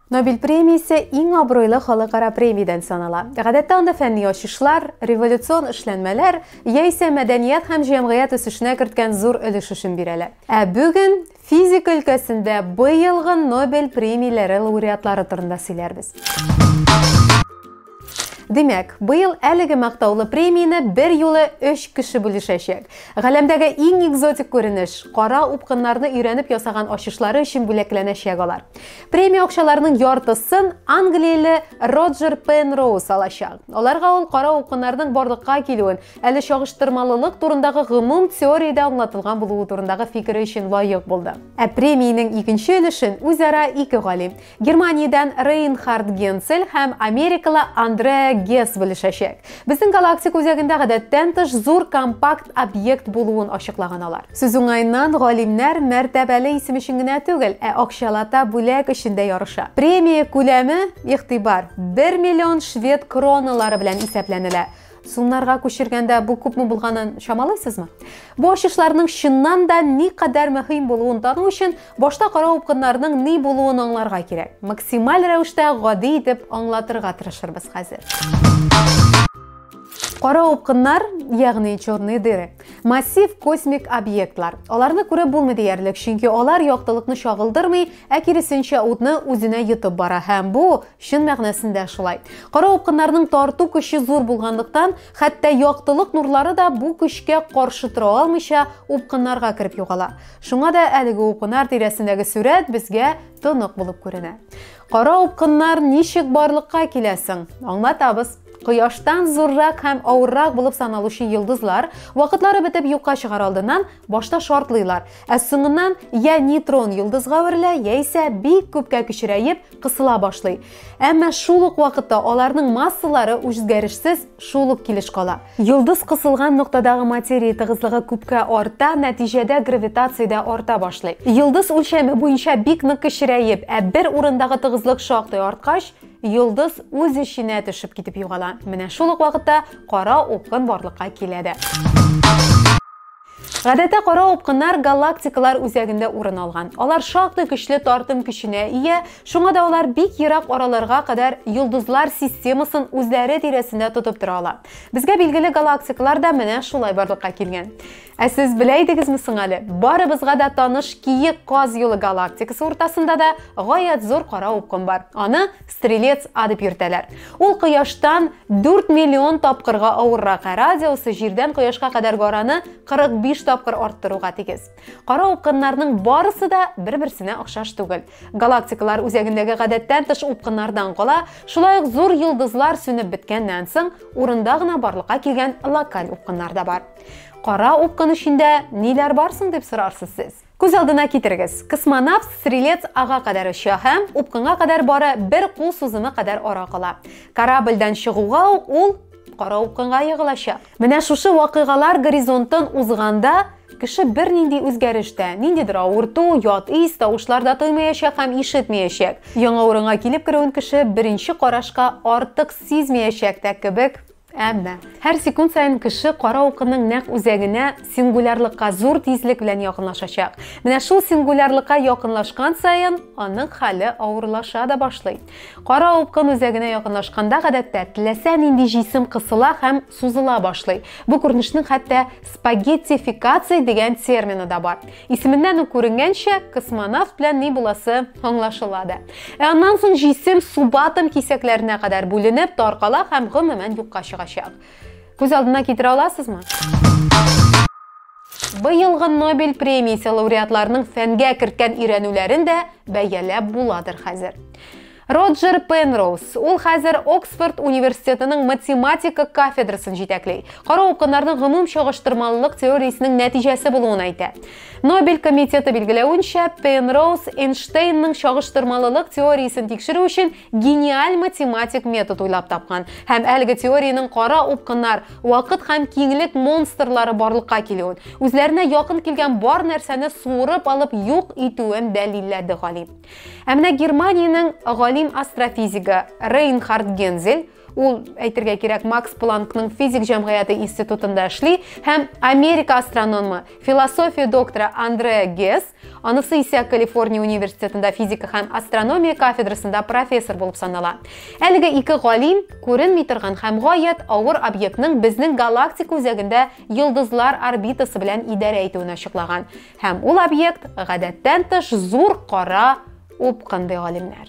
Нобель премиясе иң абруйлы халыкара премиядән санала. Гадәттә анда фәнни ачышлар, революцион эшләнмәләр яисә мәдәният һәм җәмгыять үсешенә керткән зур өлеш өчен бирәлә. Ә бүген физика өлкәсендә быелгы Нобель премияләре лауреатлары турында сөйләрбез. Димәк, быел әлеге мактаулы премияне бер юлы өч кеше бүлешәчәк. Галәмдәге иң экзотик күренеш, кара упкыннарны өйрәнеп ясаган ачышлары өчен бүләкләнәчәк алар. Премия акчаларының яртысын англияле Роджер Пенроуз алачак. Аларга ул кара упкыннарның барлыкка килүен, әле чагыштырмалылык турындагы гомум теориядә аңлатылган булуы турындагы фикере өчен лаек булды. Ә премиянең икенче өлешен үзара ике галим, Германиядән Рейнхард Генцель һәм америкалы Андреа Гесс белешәчәк. Безнең галактик үзәгендә гадәттән тыш зур компакт объект булуын ачыклаган алар. Сүз уңаеннан, галимнәр мәртәбәле исем өчен генә түгел, ә акчалата бүләк өчен дә ярыша. Премия күләме, игътибар, 1 миллион швед кроналары белән исәпләнелә. Сумнарга күчергәндә бу күпме булганын чамалыйсызмы? Бу ачышларның чыннан да ни кадәр мөһим булуын тану өчен башта кара упкыннарның ни булуын аңларга кирәк. Максималь рәвештә гади итеп аңлатырга тырышырбыз хәзер. Кара упкыннар, ягъни черные дыры, массив космик объектлар. Аларны күреп булмый диярлек, чөнки алар яктылыкны чагылдырмый, ә киресенчә утны үзенә йотып бара һәм бу Чын мәгънәсендә шулай. Кара упкыннарның тарту көче зур булганлыктан, хәтта яктылык нурлары да бу көчкә каршы тора алмыйча, упкыннарга кереп югала. Шуңа да әлеге упкынар тирәсендәге сурәт безгә тонык булып күренә. Кара упкыннар ничек барлыкка килә соң? Аңлатабыз. Кояштан зуррак һәм авыррак булып саналучы йолдызлар, вакытлары бетеп юкка чыгар алдыннан, Башта шартлыйлар, ә соңыннан я нейтрон йолдызга әверелә, яисә бик күпкә кечерәеп, кысыла башлый. Әмма шул ук вакытта аларның массалары үзгәрешсез шул ук килеш кала. Йолдыз кысылган ноктадагы материя тыгызлыгы күпкә арта, нәтиҗәдә гравитация дә арта башлый. Йолдыз үлчәме буенча бик нык кечерәеп, ә бер урындагы тыгызлык шактый арткач, йолдыз үз эченә төшеп китеп югала. Менә шул ук вакытта кара упкын барлыкка килә дә. Гадәттә кара упкыннар галактикалар үзәгендә урын алган. Алар шактый көчле тартым көченә ия, шуңа да алар бик ерак араларга кадәр йолдызлар системасын үзләре тирәсендә тотып тора ала. Безгә билгеле галактикалар да менә шулай барлыкка килгән. Ә сез белә идегезме соң әле? Барыбызга да таныш Киек Каз юлы галактикасы уртасында да гаять зур кара упкын бар. Аны Стрелец А дип йөртәләр. Ул Кояштан 4 миллион тапкырга авыррак, ә радиусы Җирдән Кояшка кадәр гараны 45 тапкыр арттыруга тигез. Кара упкыннарның барысы да бер-берсенә охшаш түгел. Галактикалар үзәгендәге гадәттән тыш упкыннардан кала, шулай ук зур йолдызлар сүнеп беткәннән соң, урында гына барлыкка килгән локаль упкыннар да бар. Кара упкын эчендә ниләр бар соң дип сорарсыз сез? Күз алдына китерегез, космонавт стрелец ага кадәр оча һәм упкынга кадәр бары бер кул сузымы кадәр ара кала. Корабльдән чыгуга ук ул кара упкынга егылачак. Менә шушы вакыйгалар горизонтын узганда кеше бернинди үзгәреш тә, ниндидер авырту, ят ис, тавышлар да тоймаячак һәм ишетмәячәк. Яңа урынга килеп керүен кеше беренче карашка артык сизмәячәк тә кебек Әмма, һәр секунд саен кеше кара укының нәкъ үзәгенә, сингулярлыкка зур тизлек белән якынлашачак. Менә шул сингулярлыкка якынлашкан саен, аның хәле авырлаша да башлый. Кара укын үзәгенә якынлашканда, гадәттә, теләсә нинди җисем кысыла һәм сузыла башлый. Бу күренешнең хәтта спагеттификация дигән термины да бар. Исеменнән үк күренгәнчә, космонавт белән ни буласы аңлашыла да. Ә аннан соң җисем субатом кисәкләренә кадәр бүленеп, таркала һәм гомумән юкка чыгачак. Күз алдына китерә аласызмы? Быелгы Нобель премиясе лауреатларының фәнгә керткән өйрәнүләрен дә бәяләп буладыр хәзер. Роджер Пенроуз, ул хәзер Оксфорд университетының математика кафедрасын җитәкли. Кара укыннарның гомум чагыштырмалылык теориясенең нәтиҗәсе булуын әйтә. Нобель комитеты билгеләвенчә, Пенроуз Эйнштейнның чагыштырмалылык теориясен тикшерү өчен гениаль математик метод уйлап тапкан һәм әлеге теориянең кара упкыннар, вакыт һәм киңлек монстрлары барлыкка килүен, үзләренә якын килгән бар нәрсәне суырып алып юк итүен дәлилләде галим. Ә менә Германиянең галим астрофизигы Рейнхард Гензель ул әйтергә кирәк Макс Планкның физик җәмгыяте институтында эшли һәм Америка астрономы, философия докторы Андреа Гес, анысы исә Калифорния университетында физика һәм астрономия кафедрасында профессор булып санала. Әлеге ике галим күренми торган һәм гаять авыр объектның безнең галактика үзәгендә йолдызлар орбитасы белән идарә итүен ачыклаган. Һәм ул объект гадәттән тыш зур кара упкын ди галимнәр.